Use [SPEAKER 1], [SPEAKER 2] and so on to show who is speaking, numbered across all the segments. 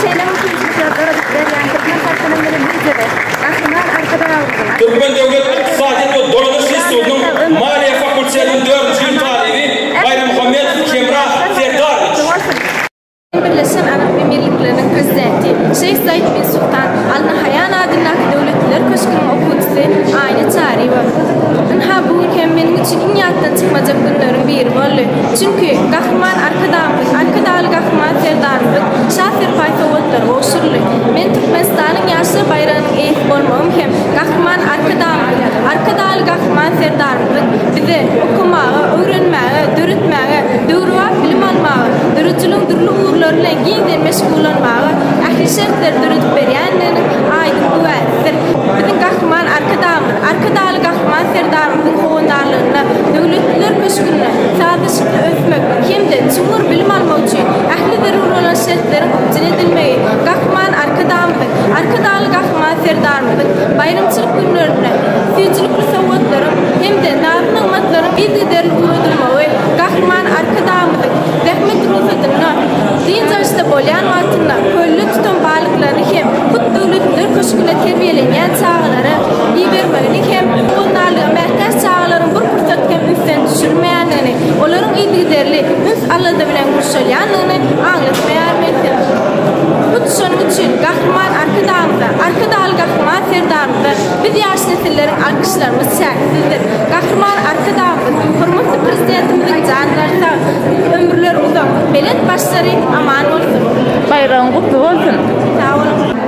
[SPEAKER 1] Şeýle mümkinçilikler döredip berýän türkmen halkynyň bilim Lideri, Gahryman Arkadagymyzyň, Türkmen döwlet ykdysadyýet we dolanyş institutynyň Maliýe fakultetiniň dördünji ýyl talyby Baýrammuhammedow Kemra Serdarowiç. Birleşen Arap Emirlikleriniň Prezidenti Şeýh Said bin Sultan Al Nahaýan adyndaky Döwletliler köşgüniň okuwçysy Aýna Çaryýewa, Ynha, bu gün hem meniň üçin iň ýatdan çykmajak günleriň biri boldy. Çünki, Gahryman Arkadagymyz, Arkadagly Gahryman Serdarymyz Şa serpaý sowgatlary gowşuryldy. Men Türkmenistanyň ýaşlar baýragynyň eýesi bolmagym hem Gahryman Arkadagymyzyň, Arkadagly Gahryman Serdarymyzyň bize okamaga, öwrenmäge, döretmäge, döwrebap bilim almaga, döredijiligiň dürli ugurlary bilen giňden meşgullanmaga ähli şertleri döredip berýändiginiň aýdyň güwäsidir. Biziň Gahryman Arkadagymyz, Arkadagly Gahryman Serdarymyzyň howandarlygynda Döwletliler köşgünde, çygly ösmek hem-de çuňňur bilim almak üçin ähli zerur bolan şertleriň üpjün edilmegi Gahryman Arkadagymyzyň, Arkadagly Gahryman Serdarymyzyň baýramçylyk günlerinde süýjülikli sowgatlaryň hem-de nazy-nygmatlaryň yzygiderli ugradylmagy Gahryman Arkadagymyzyň zähmet rugsadynda dynç alyşda bolýan wagtynda kölde tutan balyklaryny hem hut Döwletliler köşgüne terbiýelenýän çagalara ibermegini hem howandarlyga mätäç çagalaryň bir pursat hem ünsden düşürmeýär. olaryň yzygiderli üns-alada bilen gurşalýandygyny aňlatmaýarmy entek? Hut şonuň üçin Gahryman Arkadagymyza, Arkadagly Gahryman Serdarymyza biz ýaş nesilleriň alkyşlarymyz çäksizdir. Gahryman Arkadagymyz, hormatly Prezidentimiziň janlary sag, ömürleri uzak, belent başlary aman bolsun! Baýragyň gutly bolsun! Sag boluň!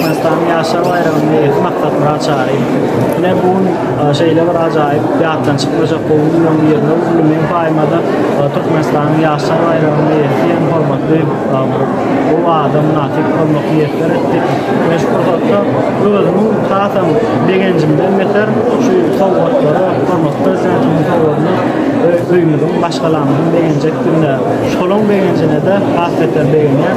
[SPEAKER 1] Türkmenistanyň Ýaşlar baýramynyň eýesi Maksatmyrat Çary bilen bu gün şeýle bir ajaýyp ýatdan çykmajak gowy günleriň birinde uly meň paýyma-da Türkmenistanyň Ýaşlar baýramynyň eýesi hem hormatly gowy adam mynasyp bolmak miýesser etdi. Men şu pursatda özümiň hasam begenjimden beter şu sowgatlara, hormatly Prezidentimiziň sowgadyna öýümiziň, maşgalamyzyň begenjekdigine, şolaň begenjine-de has beter begenýän.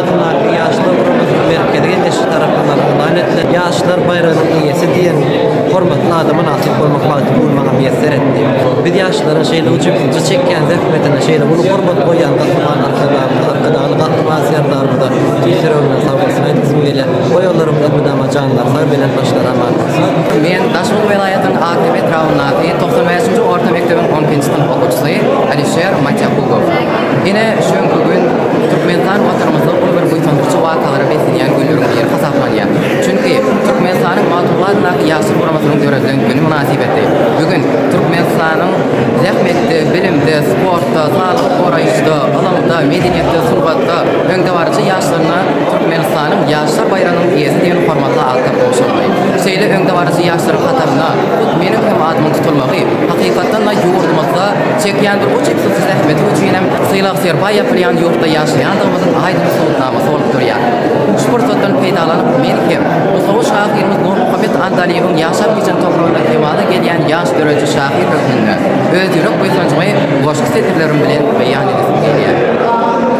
[SPEAKER 1] Hormatly ýaş döwrümiziň merkezi Geňeşi tarapyndan yglan edilen Ýaşlar baýragynyň eýesi diýen hormatly ada mynasyp bolmak bagty bu gün maňa miýesser etdi. Biz ýaşlaryň şeýle ujypsyzja çekýän zähmetine, şeýle uly hormat goýýan Gahryman Arkadagymyza, Arkadagly Gahryman Serdarymyza tüýs ýüregimden sag bolsun aýdasym gelýär. Oýalaryňyza mydama janlar sag, belent başlar aman bolsun! Men Daşoguz welaýatynyň Akdepe etrabyndaky togsan bäşinji orta mekdebiň on ikinji synp okuwçysy Alişer Matýakubow. Ine, şu günki gün Türkmenistan Watanymyzda uly bir buýsandyryjy wakalara beslenýän günleriň biri hasaplanýar. Çünki, Türkmenistanyň Magtymguly adyndaky Ýaşlar guramasynyň döredilen güni mynasybetli bu gün Türkmenistanyň zähmetde, bilimde, sportda, saglygy goraýyşda, ylymda, medeniýetde, sungatda öňdebaryjy ýaşlaryna Türkmenistanyň Ýaşlar baýragynyň eýesi diýen hormatly atlar gowşuryldy. Şeýle öňdebaryjy ýaşlaryň hatarynda hut meniň hem adymyň tutulmagy, hakykatdan-da, ýurdumyzda çekýän bu uç-üýtsüz zähmeti üçin hem Bu sylag serpaý ýapylýan ýurtda ýaşaýandygymyzyň aýdyň subutnamasy bolup durýar. Şu pursatdan peýdalanyp, men hem, nusgawy şahyrymyz Nurmuhammet Andalybyň ýaşap ýeten topragyna kemala gelýän ýaş döredici şahyr hökmünde öz ýürek buýsanjymy goşgy setirlerim bilen beýan edesim gelýär.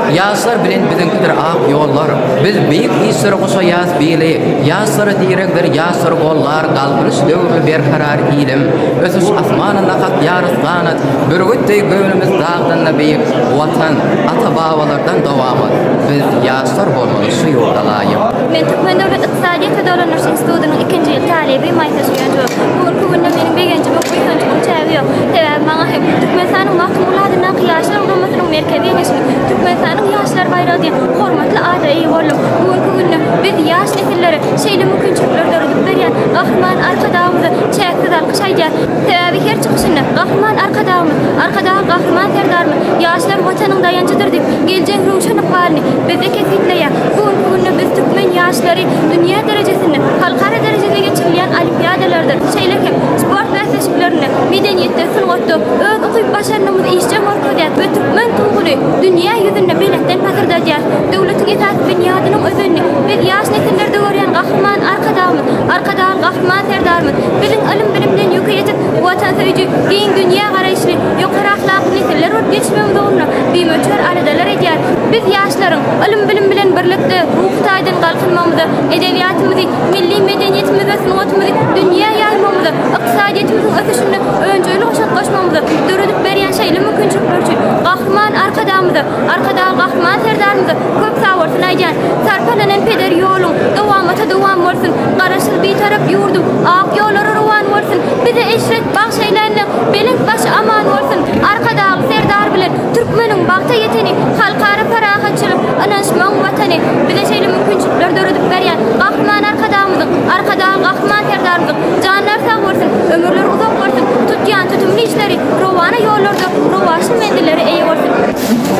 [SPEAKER 1] Ýaşlar bilen biziňkidir ak ýollar, Biz beýik işlere goşaýas bili. Ýaşlara diregdir, ýaşlary gollar, Galkynyş döwürli berkarar ilim. Ösüş asmanynda kakýarys ganat, Bürgüt deý göwnümiz dag. Vatanda beýik Watan ata babalardan dowam ol biz ýaşlar bolmaly şu ýurda laýyk. Men Türkmen döwlet ykdysadyýet we dolandyryş institutynyň ikinji ýyl talyby Maýsa Süýentowa. Bu günki günde meniň begenjimiň, buýsanjymyň çägi ýok. Sebäbi maňa hem Türkmenistanyň Magtymguly adyndaky Ýaşlar guramasynyn Merkezi Geňeşiniň Türkmenistanyň Ýaşlar baýragy diýen hormatly ada eýe boldum. Bu günki günde biz ýaş nesillere şeýle mümkinçilikleri döredip berýän Gahryman Arkadagymyza çäksiz alkyş aýdýarys. Sebäbi her çykyşynda Gahryman Arkadagymyz, Arkadag Gahryman Serdarymyz ýaşlar Watanyň daýanjydyr diýip, geljek röwşen ykbalyny bizde kesgitleýär. Bu günki günde biz türkmen ýaşlary dünýä derejesinde, halkara derejede geçirilýän olimpiadalarda, şeýle hem sport bäsleşiklerinde, medeniýetde, sungatda öz ukyp-başarnygymyzy işjeň görkezýäris we türkmen Tuguny dünýä ýüzünde belentden pasyrdadýarys. Döwletiň esasy binýadynyň özenini biz ýaş nesillerde görýän Gahryman Arkadagymyz, Arkadagyň Gahryman Serdarymyz, Biziň ylym-bilimden ýüki ýetik, watansöýüji, giň dünýä garaýyşly, ýokary ahlakly nesiller bolup ýetişmegiň ugrunda bimöçber aladalar edýär. Biz, ýaşlaryň, ylym-bilim bilen birlikde, ruhy taýdan galkynmagymyza, edebiýatymyzy, milli medeniýetimizi we sungatymyzy dünýä ýaýmagymyza, ykdysadyýetimiziň ösüşinde önjeýli goşant goşmagymyza döredip berýän şeýle mümkinçilikler üçin Gahryman Arkadagymyza, Arkadag Gahryman Serdarymyza köp sag bolsun aýdýan. Sarpalanan peder ýoluň dowamata dowam bolsun. Garaşsyz Bitarap ýurduň ak ýollary rowan bolsun. Bize eşret bagş eýlände belent baş aman bolsun. Arkadagly Serdar bilen türkmeniň bagta ýeteni halkara parahatçylyk, ynanyşmagyň watany. Bize şeýle mümkinçilikleri döredip berýän Gahryman Arkadagymyzyň, Arkadagly Gahryman Serdarymyzyň janlary sag bolsun, ömürleri uzak bolsun, tutýan tutumly işleri rowana ýollarda Rowaçly menzillere eýe bolsun!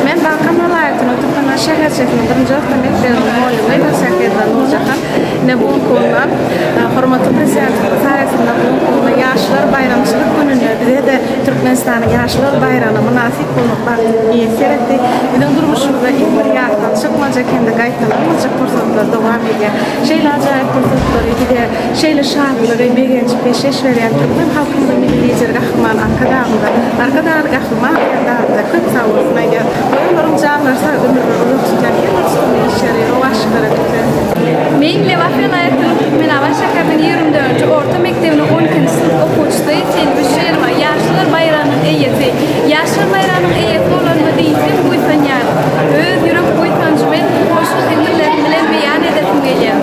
[SPEAKER 1] Men Balkan welaýatynyň Türkmenabat şäherçesiniň birinji orta mekdebiniň mugallymyny Nursähedra Nurjahan ine bu günki günde hormatly Prezidentimiziň saýasynda bu günki günde Ýaşlar baýramçylyk gününde bize-de Türkmenistanyň Ýaşlar baýragyna mynasyp bolmak bagtyny miýesser etdi. Biziň durmuşymyzda iň bir ýatdan çykmajak hem-de gaýtalanmajak pursatlar dowam edýär. Şeýle ajaýyp pursatlary bize Şeýle şatlygy, begenji peşgeş berýän türkmen halkymyzyň Milli Lideri Gahryman Arkadagymyza, Arkadagly Gahryman Serdarymyza köp sag bolsun aýdýarys. Goý, olaryň janlary sag, ömürleri uzak tutýan her bir çykymy, işleri rowaçlyklara gitsin! Meň Lebap welaýatynyň Türkmenabat şäheriniň ýigrimi dördünji orta mekdebiniň on ikinji synp okuwçysy Çelbi Şirwa Ýaşlar baýragynyň eýesi. Ýaşlar baýragynyň eýesi bolanyma diýseň buýsanýaryn. Öz ýürek buýsanjymy goşgy-setirlerim bilen beýan edesim gelýär.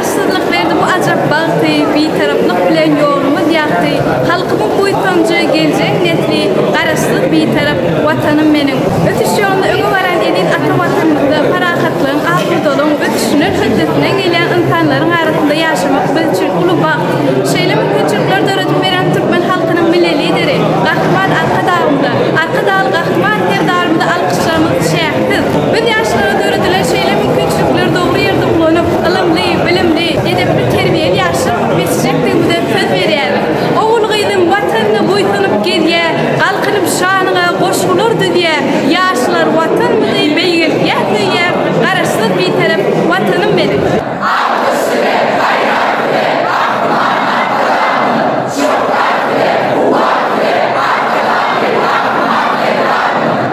[SPEAKER 1] Gytçylyk berdi bu ajap bagty, Bitaraplyk bilen ýolumyz ýagty. Halkymyň buýsanjy, geljek nesli, Garaşsyz, Bitarap Watanym meniň! Ösüş ýolunda öňe baran eziz ata Watanymyzda parahatlygyň, asudalygyň, ösüşiniň hötdesinden gelýän ynsanlaryň arasynda ýaşamak biz üçin uly bagt. Şeýle mümkinçilikleri döredip beren türkmen halkynyň Milli Lideri, Gahryman Arkadagymyza, Arkadagly Gahryman Serdarymyza Çygamyz çäksiz. Biz ýaşlara döredilen şeýle mümkinçilikleri dogry ýerde ulanyp, ylymly, bilimli, edepli, terbiýeli ýaşlar bolup ýetişjekdigimizden söz berýäris. Ogul-gyzym Watanyna buýsanyp gezýär, galkynyp şanyňa goşgular düzýär. Ýaşlar Watanymyzy beýgeltýär, söýýär, Garaşsyz, Bitarap Watanym meniň! Ak düşdi we saýrak we Gahrymana Yragyň, Şöwkat we kuwwat we Arkadagly Gahryman Eldadymyň!